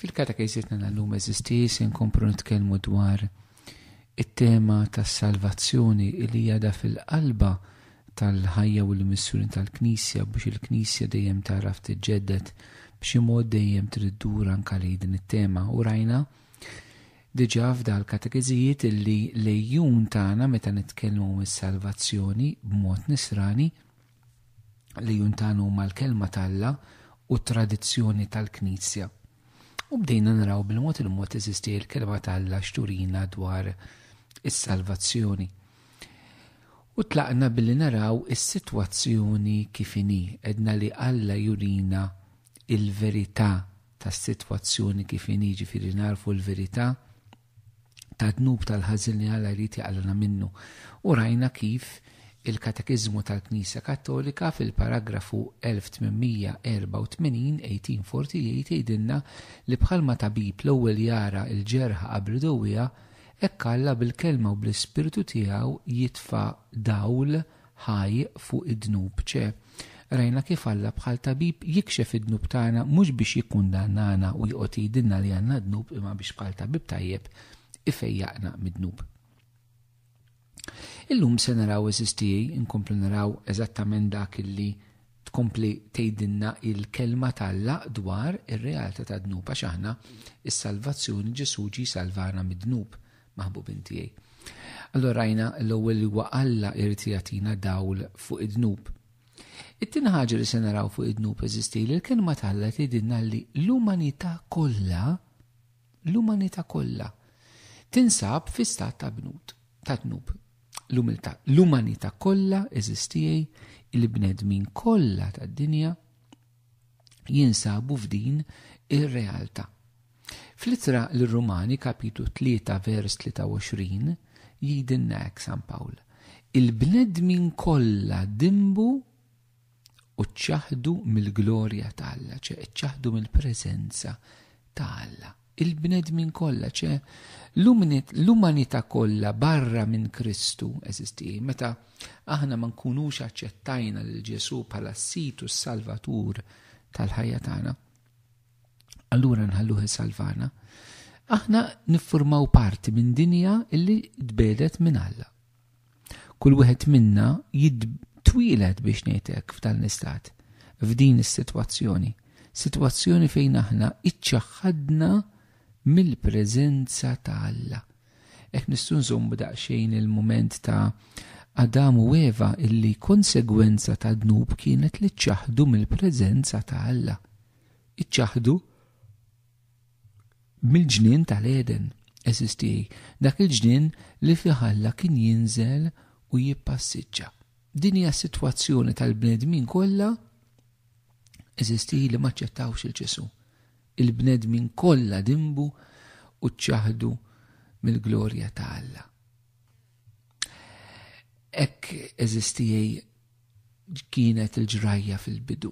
Fil-katekeżitna tal-lum eżisti se nkomplu nitkellmu dwar it-tema tas-salvazzjoni li jada fil-qalba tal-ħajja u l-missjoni tal-Knisja biex il-Knisja dejjem taraf tiġġedded b'xi mod dejjem trid dur anke lejn din it-tema u rajna diġà f'dal katekeżijiet illi lejjun tagħna meta nitkellmu mis-salvazzjoni b'mod nisrani li juntanu huma l-kelma ta' Alla u t-tradizzjoni tal-Knisja. U bdejna naraw bil-mod il-mod teżisti l-kelma ta' Alla xturina dwar is-salvazzjoni. U tlaqna billi naraw is-sitwazzjoni kif inhi, edna li Alla jurina il-verità tas-sitwazzjoni kif inhi ġifieri narfu l-verità ta' dnub tal-ħażin li Alla jrid jaqlagħna minnu. U rajna kif il-Katekiżmu tal-Knisja Kattolika fil-paragrafu 1884, 1848, jgħidilna li bħalma tabib l-ewwel jara l-ġerħa qabel idawwiha, hekk Alla bil-Kelma u bl-Ispirtu tiegħu jitfa' dawl ħaj fuq id-dnub, ċe. Rajna kif Alla bħal tabib jikxef id-dnub tagħna mhux biex jikkundannana u joqgħod jgħidilna li għandna dnub imma biex bħal tabib tajjeb ifejjaqna mid-dnub. Illum se naraw eżiż tiegħi inkomplu naraw eżattament dak illi tkompli tgħidilna il-kelma tal-la dwar ir-realtà tad-dnub għax aħna is-salvazzjoni Ġesù ġi salvana mid-dnub. maħbubin tiegħi. Allora rajna l-ewwel li huwa Alla irid jagħtina dawl fuq id-dnub. It-tieni ħaġa li se naraw fuq id-dnub eżisti li l-kelma talla tgħidilna li l-umanità kollha l-umanità kollha tinsab fi stat ta' bnut ta' dnub. L-umiltà, l-umanità kollha eżistijej il-bnedmin kollha tad-dinja jinsabu f'din ir-realtà. Fl-ittra lir-Rumani kapitlu 3 vers 23 jgħidilna hekk San Pawl, Il-bnedmin kollha dimbu u ċċaħdu mill-glorja ta' Alla, ċe ċċaħdu mill-preżenza ta' Alla. Il-bnedmin kollha, ċe, l-umanità kollha barra minn Kristu, eżiż tiegħi, meta aħna ma nkunux aċċettajna lil Ġesù bħala s-Sid u s-Salvatur tal-ħajja tagħna, allura nħalluh isalvana, aħna niffurmaw parti minn dinja illi tbedet minn Alla. Kull wieħed minna jitwieled biex ngħid hekk f'dan l-istat, f'din is-sitwazzjoni, sitwazzjoni fejn aħna iċċaħħadna mill-preżenza ta' Alla. Hekk nistgħu nżommu daqsxejn il-mument ta' Adam u Eva illi konsegwenza ta' dnub kienet li ċċaħdu mill-preżenza ta' Alla. Iċċaħdu Mill-ġnien tal-Għeden, għeżież tiegħi, dak il-ġnien li fih Alla kien jinżel u jippassiġġa. Din hija s-sitwazzjoni tal-bnedmin kollha, għeżież tiegħi li m'aċċettawx il Ġesù. Il-bnedmin kollha dimbu u ċċaħdu mill-glorja ta' Alla. Hekk eżistijej kienet il-ġrajja fil-bidu.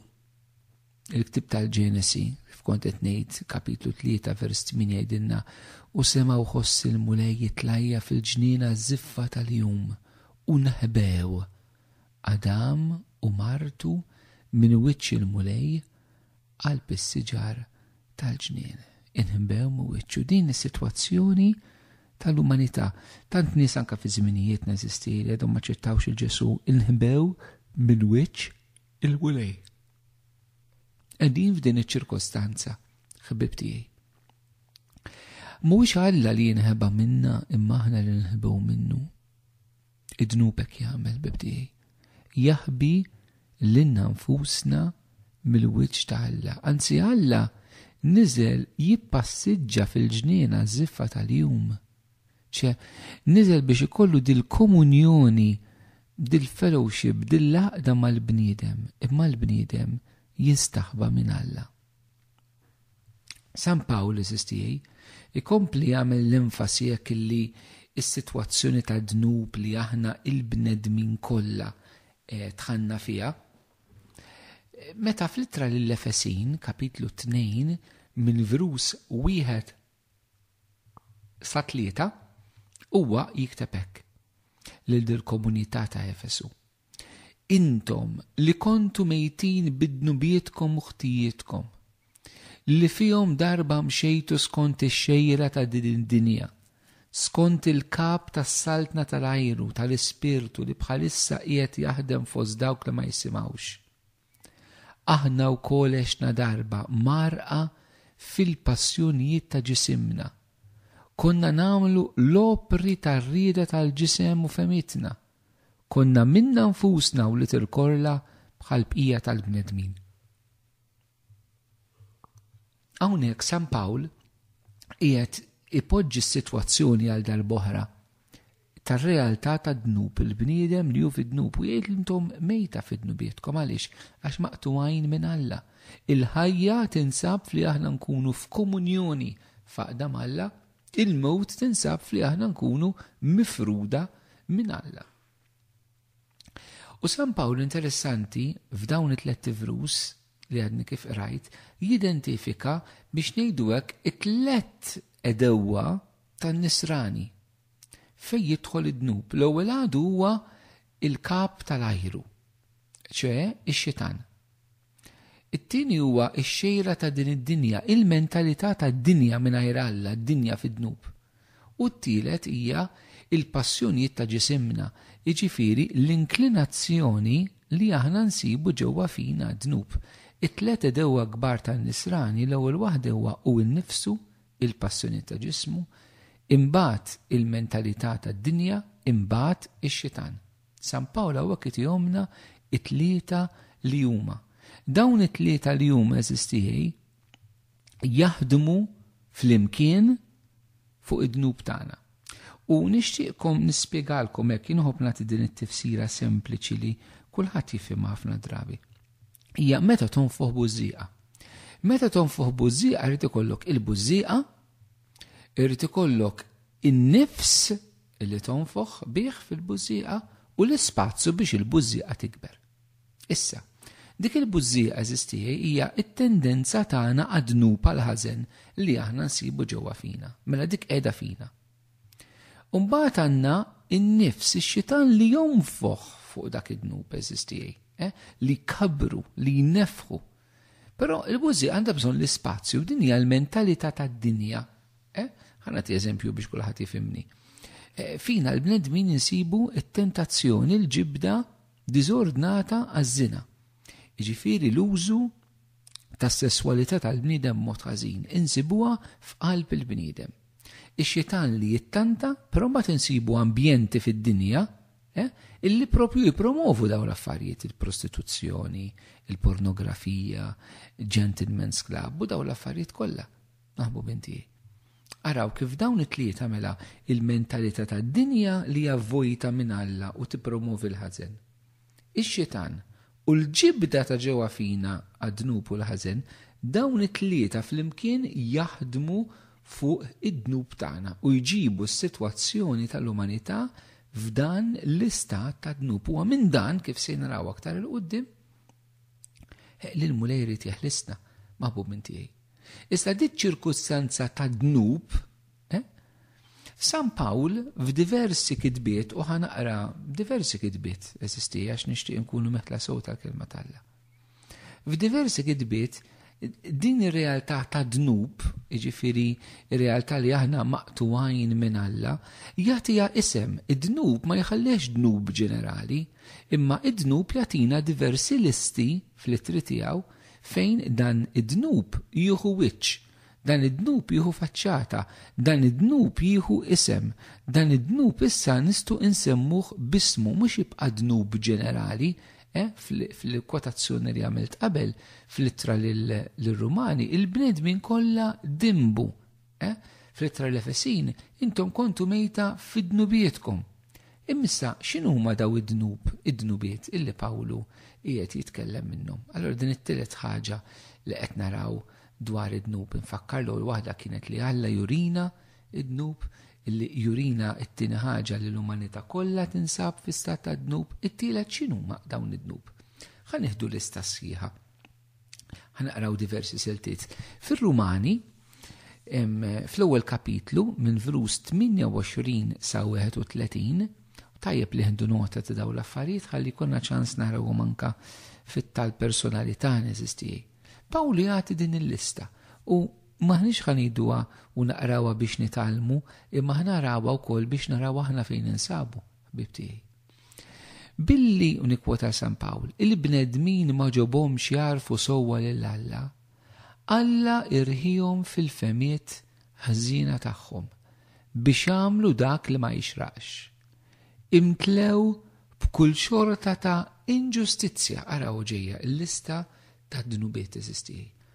Il-ktieb tal-Ġenesi, kif kont qed ngħid, kapitlu 3 vers 8 jgħidilna, U sema' u ħoss il-Mulej jitlajja fil-ġniena żiffa tal-jum, u nħbew. Adam u martu minn wiċċ il-Mulej qalb is-siġar tal-ġnien. Inħbew minn wiċċu din is-sitwazzjoni tal-umanità. Tant nies anke fi żminijiet neżisti li għadhom ma ċettawx il-Ġesu inħbew minn wiċċ il-Mulej. Qegħdin f'din iċ-ċirkostanza, ħbib tiegħi. Mhuwiex Alla li jinħeba minna imma aħna li nħibew minnu. Id-dnubek jagħmel bib tiegħi. Jaħbi lilna nfusna mill-wiċċ ta' Alla. Anzi Alla niżel jippassiġġa fil-ġniena żiffa tal-jum ċe, niżel biex ikollu dil-komunjoni, dil-fellowship, dil-għaqda mal-bniedem, imma l-bniedem jistaħba minn Alla. San Pawl, eżis tiegħi, ikompli jagħmel l-enfasi hekk illi s-sitwazzjoni ta' dnub li aħna il-bnedmin kollha eh, tħanna fiha. Meta fl-ittra lill-Efesin, kapitlu 2, minn vrus wieħed sa tlieta, huwa jikteb hekk lil dil-komunità ta' Efesu, Intom li kontu mejtin bid-dnubietkom u ħtijietkom, li fihom darba mxejtu skont ix-xejra ta' din id-dinja, skont il-kap tas-saltna tal-ajru tal-ispirtu li bħalissa qiegħed jaħdem fost dawk li ma jisimgħux. Aħna wkoll għexna darba mgħarrqa fil-passjonijiet ta' ġisimna. Konna nagħmlu l-opri tar-rieda tal-ġisem u fehmitna. Konna minna nfusna wlied il-korla bħall-bqija tal-bnedmin. Hawnhekk San Pawl qiegħed ipoġġi s-sitwazzjoni għal darb'oħra tar-realtà tad-dnub, il-bniedem li hu fid-dnub, u jgħid intom mejta fi dnubietkom, għaliex? Għax maqtugħin minn Alla. Il-ħajja tinsab f'li aħna nkunu f'komunjoni f'għaqda m'Alla, il-mewt tinsab f'li aħna nkunu mifruda minn Alla. U San Pawl interessanti f'dawn it-tlett ivrus li għadni kif qrajt, jidentifika biex ngħidu hekk it-tlett edewwa tan-nisrani Fejn jidħol id-dnub? L-ewwel għadu huwa l-kap tal-ajru, ċe x-Xitan. It-tieni huwa x-xejra ta' din id-dinja, il-mentalità tad-dinja mingħajr Alla, d-dinja fid-dnub. U t-tielet hija l-passjonijiet ta' ġisimna, jiġifieri l-inklinazzjoni li aħna nsibu ġewwa fina, d-dnub. It-tliet għedewwa kbar tan-nisrani, l-ewwel waħda huwa hu nnifsu, il-passjonijiet ta' ġismu, imbagħad il-mentalità tad-dinja, imbagħad ix-xitan. San Pawl hawnhekk itihomlna t-tlieta li huma. Dawn it-tlieta li huma eżiż tiegħi jaħdmu flimkien fuq id-dnub tagħna. U nixtieqkom nispjegalkom hekk jinħobb nagħti din it-tifsira sempliċi li kulħadd jifhimha ħafna drabi. Hija meta tonfoħ bużżieqa. Meta tonfoħ bużżieqa jrid ikollok il-bużżieqa, irid ikollok in-nifs li tonfoħ bih fil-bużżieqa u l-ispazju biex il-bużżieqa tikber. Issa, dik il-bużżija għeżież tiegħi hija t-tendenza tagħna għad-dnub għall-ħażen li aħna nsibu ġewwa fina. Mela dik qiegħda fina. U mbagħad għandna n-nifs, ix-xitan li jonfoħ fuq dak id-dnub għeżież tiegħi, eh, li jkabbru, li jnefħu. Però il-bużżija għandha bżonn l-ispazju, din hija l-mentalità tad-dinja. Eh? Ħana ti eżempju biex kulħadd jifimni. Eh, fina l-bnedmin insibu t-tentazzjoni, l-ġibda diżordnata għaż-żina, jiġifieri l-użu tas-sesswalità tal-bniedem b'mod ħażin, insibuha f'qalb il-bniedem. Ix-Xitan li jittanta, però mbagħad insibu ambjenti fid-dinja illi proprju jippromovu dawn l-affarijiet, il-prostituzzjoni, il-pornografija, gentlemen's club u dawn l-affarijiet kollha. Maħbubin tiegħi. Araw kif dawn it-tlieta mela il-mentalità tad-dinja li hija vojta minn Alla u tippromovi l-ħażen. Ix-Xitan u l-ġibda ta' ġewwa fina għad-dnub u l-ħażen, dawn it-tlieta flimkien jaħdmu fuq id-dnub tagħna u jġibu s-sitwazzjoni tal-umanità f'dan l-istat tad-dnub. Huwa minn dan, kif se naraw aktar 'il quddiem, Li l-Mulej irid jeħlisna, maħbub minn tiegħi. Iżda dit ċirkustanza ta' dnub, eh? San Pawl f'diversi kitbiet u ħanaqra diversi kitbiet eżisti għax nixtieq nkunu meħla sew tal-kelma talla. F'diversi kitbiet Din ir-realtà ta' dnub, jiġifieri r-realtà li aħna maqtugħin minn Alla, jagħtiha isem. Id-dnub ma jħallihx dnub ġenerali, imma id-dnub jagħtina diversi listi fl-ittri tiegħu fejn dan id-dnub jieħu wiċċ, dan id-dnub jieħu faċċata, dan id-dnub jieħu isem. Dan id-dnub issa nistgħu nsemmuh b'ismu, mhux jibqa' dnub ġenerali, Eh, fil-kwotazzjoni li għamilt qabel, fl-ittra l-Rumani, il-bnedmin kollha dimbu. Eh, fl-ittra l-Efesin, intom kontu mejta fid-dnubietkom. Immissa, xinu ma daw id-dnub, id-dnubiet illi Pawlu qiegħed jitkellem minnhom. Allora din it-tielet ħaġa li qed naraw dwar id-dnub infakkar l waħda kienet li Alla jurina id-dnub, li jurina t-tieni ħaġa li l-umanità kollha tinsab fi stat ta' dnub, it-tielet x'inhuma dawn id-dnub. Ħa nieħdu lista sħiħa. Ħa naqraw diversi siltiet. Fir-Rumani, fl-ewwel kapitlu minn vrus 28 sa 31, tajjeb li ħindu nota ta' dawn l-affarijiet ħalli jkollna ċans narawhom anka fit-tal personalità neżistijaj. Pawlu jagħti din il-lista u M'aħniex ħa ngħiduha u naqrawha biex nitgħallmu, imma ħa narawha wkoll biex naraw aħna fejn ninsabu, ħbieb tiegħi. Billi, u nikkwota San Pawl, il-bnedmin ma ġobhomx jagħrfu sewwa lil Alla, Alla irħihom fil-fehmiet ħżiena tagħhom biex jagħmlu dak li ma jixraqx. Imtlew b'kull xorta ta' inġustizzja, araw ġejja l-lista tad-dnubiet eżistiej.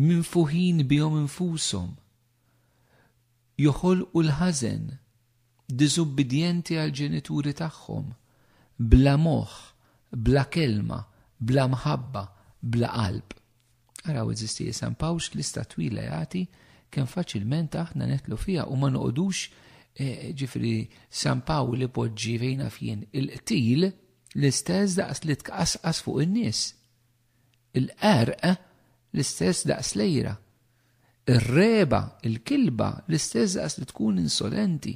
minfuħin bihom infushom, joħolqu l-ħażen, diżubbidjenti għall-ġenituri tagħhom, bla moħħ, bla kelma, bla mħabba, bla qalb. Araw, għeżiżti, li San Pawx lista twila jagħti kemm faċilment aħna netlu fiha u ma noqogħdux eh, ġifri San Pawl li poġġi fejna fien il-qtil l-istess daqs li tqasqas fuq in-nies. Il-qerq l-istess daqs l-għira. Ir-regħba, il-kilba, l-istess daqs li tkun insolenti.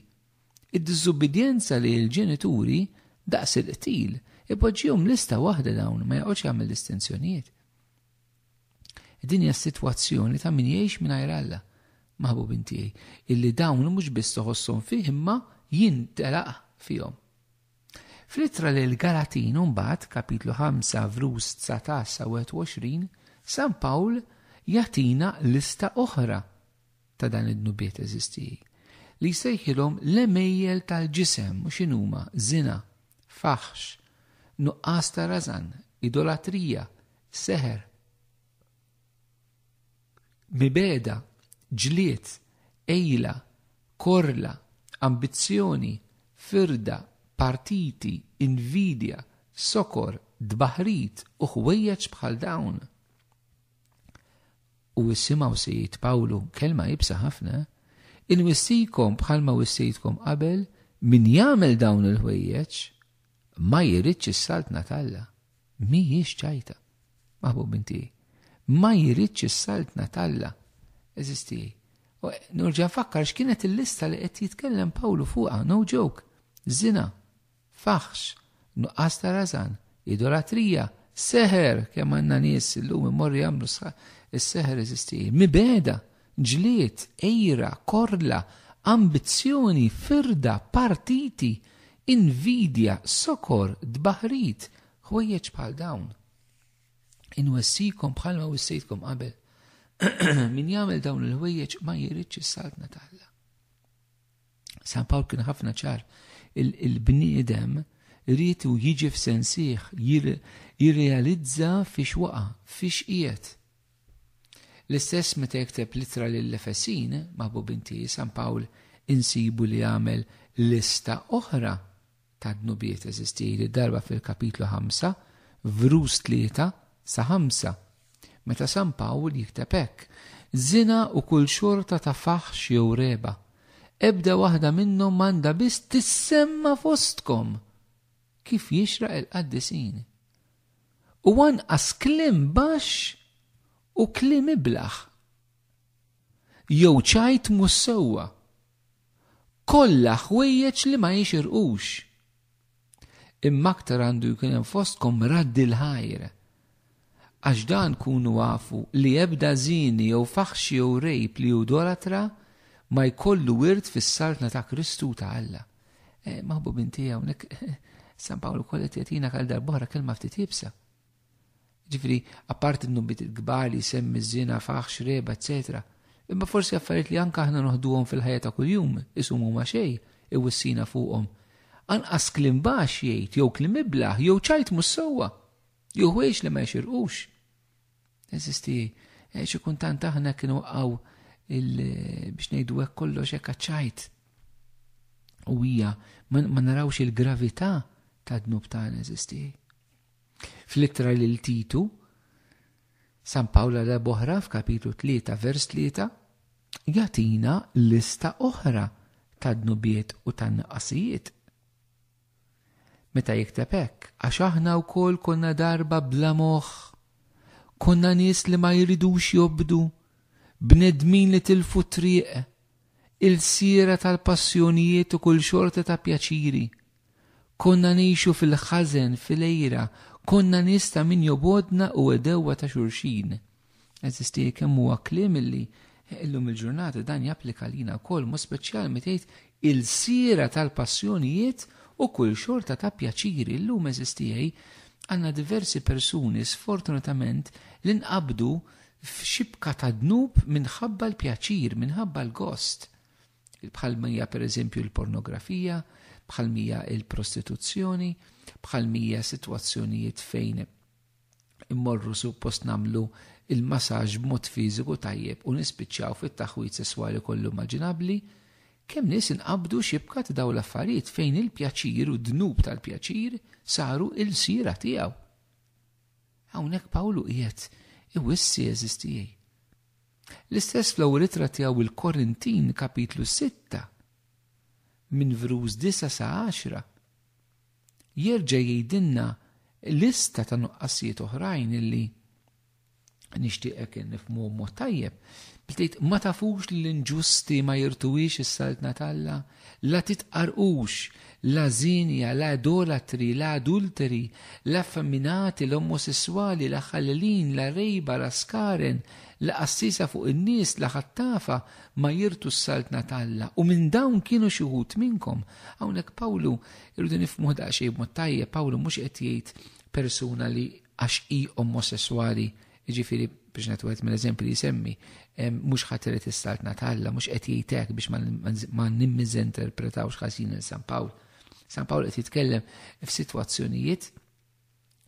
Id-diżubbidjenza lejn il-ġenituri, daqs il-qtil. Ipoġġihom lista waħda dawn, ma joqgħodx jagħmel distinzjonijiet. Din hija s-sitwazzjoni ta' min jgħix mingħajr Alla, maħbubin tiegħi, illi dawn mhux biss toħosshom fih imma jintelaq fihom. Fl-ittra lill-Galatin imbagħad, kapitlu 5 vrus 19 sa 21, San Pawl jagħtina lista oħra ta' dan id-dnubiet eżistiji, li jsejħilhom l-għemejjel tal-ġisem u x'inhuma, żina, faħx, nuqqas ta' rażan, idolatrija, seħer, Mibeda, ġlied, għejla, korla, ambizzjoni, firda, partiti, invidja, sokor, tbaħħrit u ħwejjeġ bħal dawn. U issimgħu se jgħid Pawlu kelma ibsa ħafna, inwissikom bħalma wissejtkom qabel min jagħmel dawn il-ħwejjeġ ma jridx is-saltna talla. Mhijiex ċajta, maħbub inti. Ma jridx is-saltna t'Alla. Eżisti. U norġa' nfakkar x'kienet il-lista li qed jitkellem Pawlu fuqha, no joke. Żina, faħx, nuqqas ta' rażan, idolatrija, seħer, kemm għandna nies illum imorru jagħmlu s-seħer eżisti, mibegħda. Ġlied, għira, korla, ambizzjoni, firda, partiti, invidja, sokor, tbaħħrit, ħwejjeġ bħal dawn. Inwessikom bħalma wissejtkom qabel. Min jagħmel dawn il-ħwejjeġ ma jridx is-saltna ta' Alla. San Pawl kien ħafna ċar il-bniedem rritu jiġi f'sensiħ, jirrealizza fiex waqa, fiex qiegħed, L-istess meta jikteb l-Ittra lill-Efesin, maħbubin tieghi, San Pawl insibu li għamel lista oħra ta' dnubiet eżistiji, di darba fil-kapitlu 5, vrus 3 sa 5, meta San Pawl jikteb hekk, Żina u kull xorta ta' faħx jew regħba, ebda waħda minnhom m'għandha biss tissemma fostkom, kif jixraq il-qaddisin. u anqas kliem baxx u kliem iblah, jew ċajt mhux sewwa, kollha ħwejjeġ li ma jixirqux. Imma aktar għandu jkun hemm fostkom raddi l-ħajr, għax dan kunu afu li ebda żieni jew faħxi jew rejb li judolatra ma jkollu wirt fis-Saltna ta' Kristu u ta' Alla. Eh, maħbubin tiegħi hawnhekk San Pawlu kollet jatina kal darbohra kelma ftit ibsa. Ġifri, apart n-nubit il-gbar li semmi zina, faħx, reba, etc. Imma forsi affarijiet li anka aħna noħduhom fil-ħajja ta' kuljum, isumu ma xej, iwissina fuqhom. Anqas klim bax jgħid, jew klim iblaħ, jew ċajt mus sewwa, jew ħwejx li ma jxirqux. Eżisti, eh, xi kuntant aħna kienu waqgħu biex ngħidu hekk kollox hekk ċajt. U hija ma narawx il-gravità tad-dnub tagħna eżisti. Fl-ittra lil Titu, San Pawla la boħra f'kapitlu 3 vers 3 jatina lista oħra tad-dnubiet u tan-naqasijiet. Meta jikteb hekk, għax aħna wkoll konna darba bla moħħ, konna nies li ma jridux jobdu, bnedmin li tilfu t-triq, ilsiera tal-passjonijiet u kull xorta ta' pjaċiri. Konna ngħixu fil-ħażen, fil-għira, konna nies ta' min jobgħodna u għedewwa ta' xulxin. Eżisti kemm huwa kliem illi illum il-ġurnata dan japplika lina wkoll mu speċjalment tgħid il-sira tal-passjonijiet u kull xorta ta' pjaċiri illum eżistijaj għandna diversi persuni sfortunatament li nqabdu f'xibka ta' dnub minħabba l-pjaċir, minħabba l-gost. Bħal mija per eżempju l-pornografija, bħal mija l-prostituzzjoni, bħal mija situazzjonijiet fejn immorru suppost nagħmlu il-masaġġ b'mod fiżiku tajjeb u nispiċċaw fit-taħwid sesswali kollu immaġinabbli, kemm nies inqabdu xibka ta' dawn l-affarijiet fejn il-pjaċir u d-dnub tal-pjaċir saru ilsiera tiegħu. Hawnhekk Pawlu qiegħed iwissi għeżież tiegħi. L-istess fl-ewwel ittra tiegħu il-Korintin kapitlu 6 minn vruż 9 sa 10. jerġa' jgħidilna lista ta' nuqqasijiet oħrajn illi nixtieqek nifhmuhom mod tajjeb. Btejt ma tafux li l-inġusti ma jirtuwiex is-saltna t'Alla, la titqarqux, la żienja, la idolatri, la adulteri, la effeminati, la omosesswali, la ħallelin, la rejba, la skaren, la qassiesa fuq in-nies, la ħattafa ma jirtu s-saltna t'Alla. U minn dawn kienu xi wħud minnkom. Hawnhekk Pawlu Irridu nifhmu daqsxejn b'mod tajjeb Pawlu mhux qed jgħid persuna li għax hi omosessuali, jiġifieri biex nagħtu wieħed mill-eżempji li jsemmi, mhux ħadd irid is-saltna talla, mhux qed jgħid hekk biex ma nimmiżinterpretawx ħażin il San Pawl. San Pawl qed jitkellem f'sitwazzjonijiet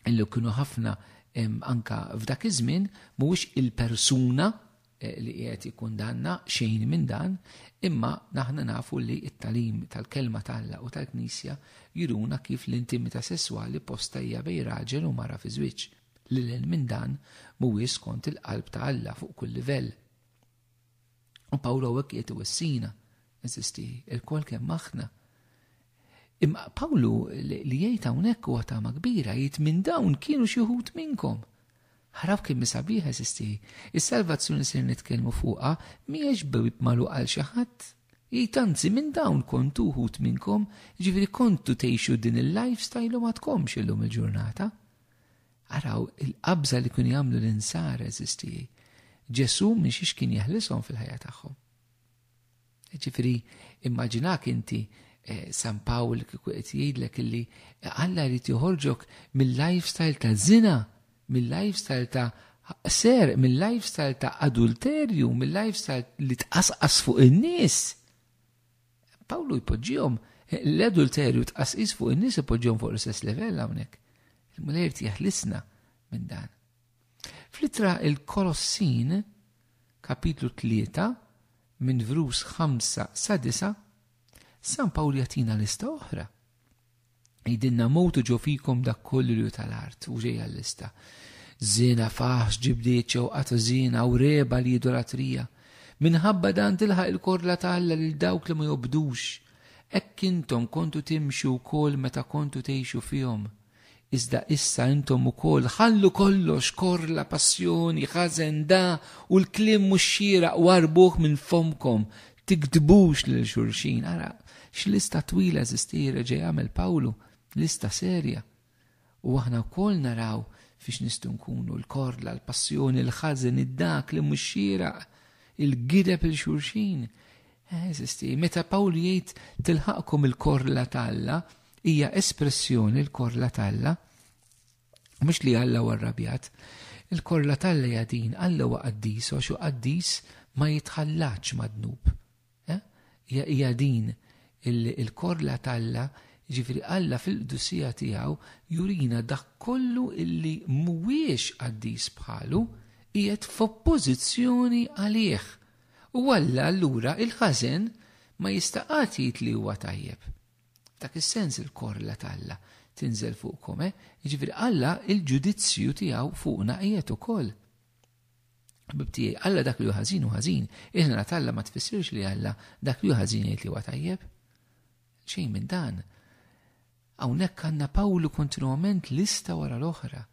illi kienu ħafna anka f'dak iż-żmien mhuwiex il-persuna eh, li qiegħed ikun danna xejn minn dan, imma naħna nafu li t-talim tal-kelma talla u tal-Knisja juruna kif l-intimità sesswali posta hija bej raġel u mara fi żwieġ. Lilel minn dan mhuwiex skont il-qalb ta' Alla fuq kull livell. U Pawlu għek jiet wissina, eżisti, il-kol kemm aħna. Imma Pawlu li jgħid hawnhekk huwa tama kbira jgħid minn dawn kienu xi wħud minnkom. Ħaraw kien misabiħ eżisti. Is-salvazzjoni se nitkellmu fuqha mhijiex bib magħluq għal xi ħadd. Jgħid anzi minn dawn kontu wħud minnkom, ġifieri kontu tgħixu din il-lifestyle u ma tkomx illum il-ġurnata. Araw il-qabża li kienu jagħmlu l-insar eżistijaj. Ġesu minxiex kien jeħlishom fil-ħajja tagħhom. Ġifiri, immaġinak inti eh, San Pawl kieku qed jgħidlek illi Alla jrid joħorġok mill-lifestyle ta' zina, mill-lifestyle ta' ser, mill-lifestyle ta' adulterju, mill-lifestyle li tqasqas fuq in-nies. Pawlu jpoġġihom l-adulterju tqasqis fuq in-nies ipoġġihom fuq l-istess livell hawnhekk. Il-Mulej jeħlisna minn dan. Flittra il-Kolossin, kapitlu 3, minn vrus 5 sa 9, San Pawl jatina lista oħra. Jidilna mut u ġo fikom dak kollu li hu tal-art, u ġejja l-lista. Żiena, faħx, ġibdiet, xewqat ta' żiena, u regħba li idolatrija. Minħabba dan tilħaq il-korla ta' Alla lil dawk li ma jobdux. Hekk intom kontu timxu wkoll meta kontu tgħixu fihom. Iżda issa intom ukoll ħallu kollox, korla, passjoni, ħażen, dagħa, u l-kliem mhux xieraq u arbuh minn fommkom, Tiktbux lil xulxin, ara x'lista twila eżisti reġa' jagħmel Pawlu, lista serja. U aħna wkoll naraw fiex nistgħu nkunu l-korla, l-passjoni, l-ħażen, id-dak li mhux xieraq, il-gideb il xulxin. Eh, eżisti, meta Pawlu jgħid tilħaqkom il-korla t'Alla, hija espressjoni l-korla t'Alla. Mhux li Alla huwa rrabjat. Il-korla t'Alla hija din, Alla huwa qaddis għax hu qaddis ma jitħallatx mad-dnub. Eh? Hija hija din il-korla t'Alla, jiġifieri Alla fil-qdusija tiegħu jurina dak kollu illi mhuwiex qaddis bħalu qiegħed f'oppożizzjoni għalih. U Alla allura il-ħażen ma jista' qatt jgħid li huwa tajjeb. F'dak is-sens il-korla t'Alla tinżel fuqkom, eh? Jiġifieri Alla il-ġudizzju tiegħu fuqna qiegħed ukoll. Ħbib tiegħi, Alla dak li hu ħażin hu ħażin, il-ħna t'Alla ma tfissirx li Alla dak li hu ħażin jgħid li huwa tajjeb. Xejn minn dan. Hawnhekk għandna Pawlu kontinwament lista wara l-oħra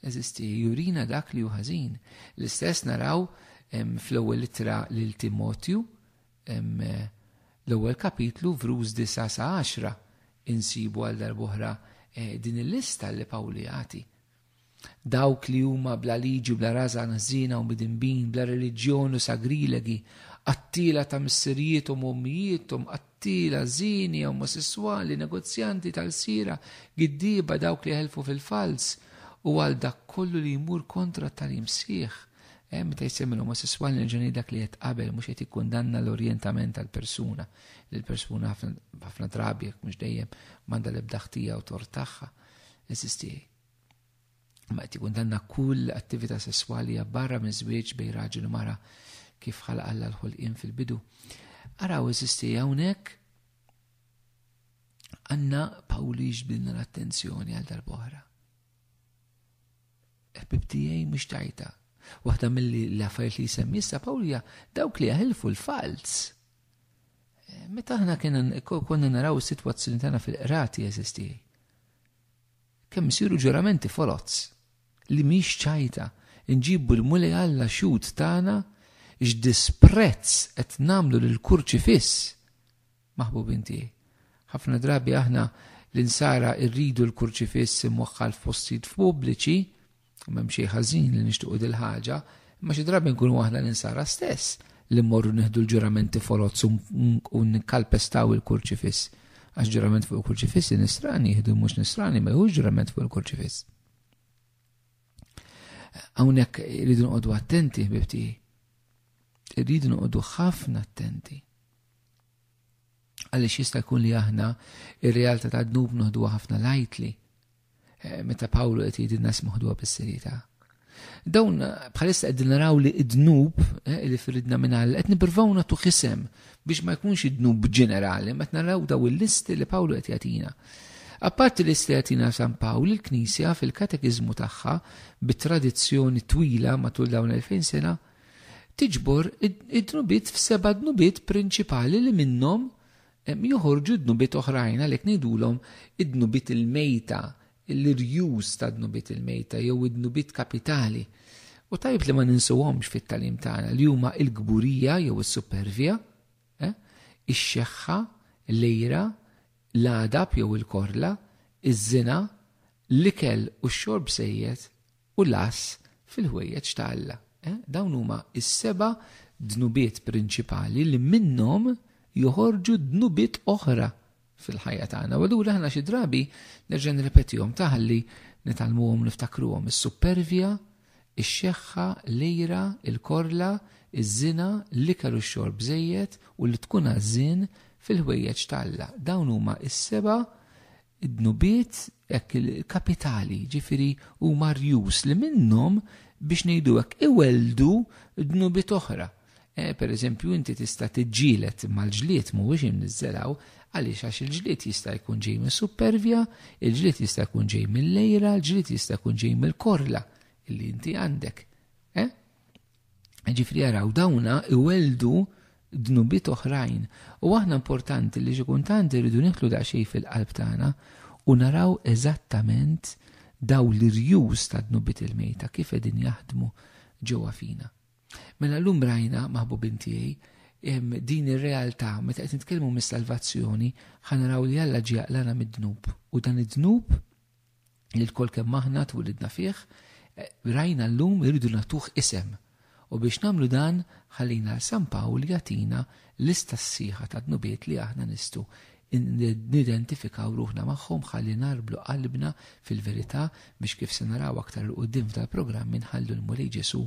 eżisti jurina dak li hu ħażin. L-istess naraw fl-ewwel ittra lil Timotju, l-ewwel kapitlu vruż 9 sa 10 insibu għal darb'oħra eh, din il-lista li Pawlu jagħti. Dawk li huma bla liġi u bla rażan ħżiena u midinbin, bla reliġjon u sagrilegi, qattila ta' missirijiethom u ommijietom, qtila, żieni, omosesswali, negozjanti tal-siera, giddieba, dawk li jeħelfu fil-falz, u għal dak kollu li jmur kontra t-tagħlim sħiħ. Eh, meta jsemmi l-omosesswali nerġa' ngħid dak li qed qabel mhux qed jikkundanna l-orjentament tal-persuna, li l-persuna ħafna drabi jekk mhux dejjem m'għandha l-ebda ħtija u tort tagħha. Eżistiej. ma qed jikundanna kull attività sesswali hija barra miż-żwieġ bejn raġel u mara kif ħalaq Alla l-ħolqien fil-bidu. Araw eżisti hawnhekk għanna Pawlu jiġbdilna l-attenzjoni għal darbohra. Ħbib tiegħi mhux tajta. Waħda milli l-affarijiet li jsemmi issa Pawlija dawk li jaħilfu l-falz. Eh, meta aħna konna naraw is-sitwazzjoni tagħna fil-qrati eżisti. Kemm isiru ġuramenti foloz li mhix ċajta, inġibu l-Mulej Alla xhud tagħna x'disprezz qed nagħmlu lill-kurċifiss! Maħbubin tiegħi, ħafna drabi aħna l-insara rridu l-kurċifiss imwaħħal f'postijiet pubbliċi, U m'hemm xejn ħażin li nixtiequ dil-ħaġa, imma xi drabi nkunu aħna l-insara stess li mmorru nieħdu l-ġuramenti foloz u nikkalpestaw il-kurċifiss. Għax ġurament fuq il-kurċifiss nisrani jieħdu mhux nisrani ma jħux ġurament fuq il-kurċifiss. Hawnhekk irridu noqogħdu attenti bibti. Irridu noqogħdu ħafna attenti. Għaliex jista' jkun li aħna ir-realtà ta' dnub noħduha ħafna lajtli. Eh, meta Pawlu qed jgħidilna smuħ dwar bis-serjetà. Dawn bħalissa qegħdin naraw li id-dnub eh, li firidna minn Alla qed nippruvaw nagħtu kisem biex ma jkunx id-dnub ġenerali, ma naraw daw il-listi li Pawlu qed jagħtina. Apparti li se jagħtina San Pawl, il-Knisja fil-katekiżmu tagħha bit-tradizzjoni twila matul dawn 2000 sena tiġbor id-dnubiet f'seba' dnubiet prinċipali li minnhom Joħorġu dnubiet oħrajn, għalhekk ngħidulhom id-dnubiet il-mejta, l-irjus tad-dnubiet il-mejta jew id-dnubiet kapitali. U tajjeb li ma ninsuhomx fit-tagħlim tagħna li huma l-kburija jew is-supervja, ix-xeħħa, l-għira, l-għadab jew il-korla, iż-żina, l-ikel u x-xorb sejjed u l-għass fil-ħwejjeġ ta' Alla. Dawn huma s-seba' dnubiet prinċipali li minnhom joħorġu dnubiet oħra fil-ħajja tagħna. U allura aħna xi drabi nerġa' nirrepetihom ta' ħalli nitgħallmuhom niftakruhom is-suppervja, ix-xeħħa, l-għira, il-korla, iż-żina, l-ikel u x-xorb żejjed u li tkun għażżien fil-ħwejjeġ ta' Alla. Dawn huma s-seba' dnubiet hekk il-kapitali, jiġifieri huma rjus li minnhom biex ngħidu hekk iwelldu dnubiet oħra. Eh, per eżempju, inti tista' tiġġielet mal-ġlied mhuwiex imniżżelaw, għaliex għax il-ġlied jista' jkun ġej minn supervja, il-ġlied jista' jkun ġej mill-lejra, il-ġlied jista' jkun ġej mill-korla illi inti għandek. Eh? Ġifri jaraw dawna iweldu dnubiet oħrajn. U aħna importanti li xi kultant irridu nitlu daqsxejn fil-qalb tagħna u naraw eżattament daw l-irjus ta' dnubiet il-mejta kif qegħdin jaħdmu ġewwa fina. Mela llum rajna maħbubin tiegħi din ir-realtà meta qed nitkellmu mis-salvazzjoni ħanaraw li Alla ġie jaqlana mid-dnub u dan id-dnub li lkoll kemm aħna twilidna fih, rajna llum irridu nagħtuh isem. U biex nagħmlu dan, ħallina 'l San Pawl jagħtina lista sħiħa ta' dnubiet li aħna nistgħu nidentifikaw ruħna magħhom ħalli ngħarblu qalbna fil-verità biex kif se naraw aktar 'l quddiem f'dal-programm inħallu l-Mulej Ġesù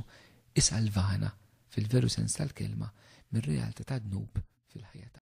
isalvana, fil-veru sens tal-kelma, mir-realtà tad-dnub fil-ħajja tagħna.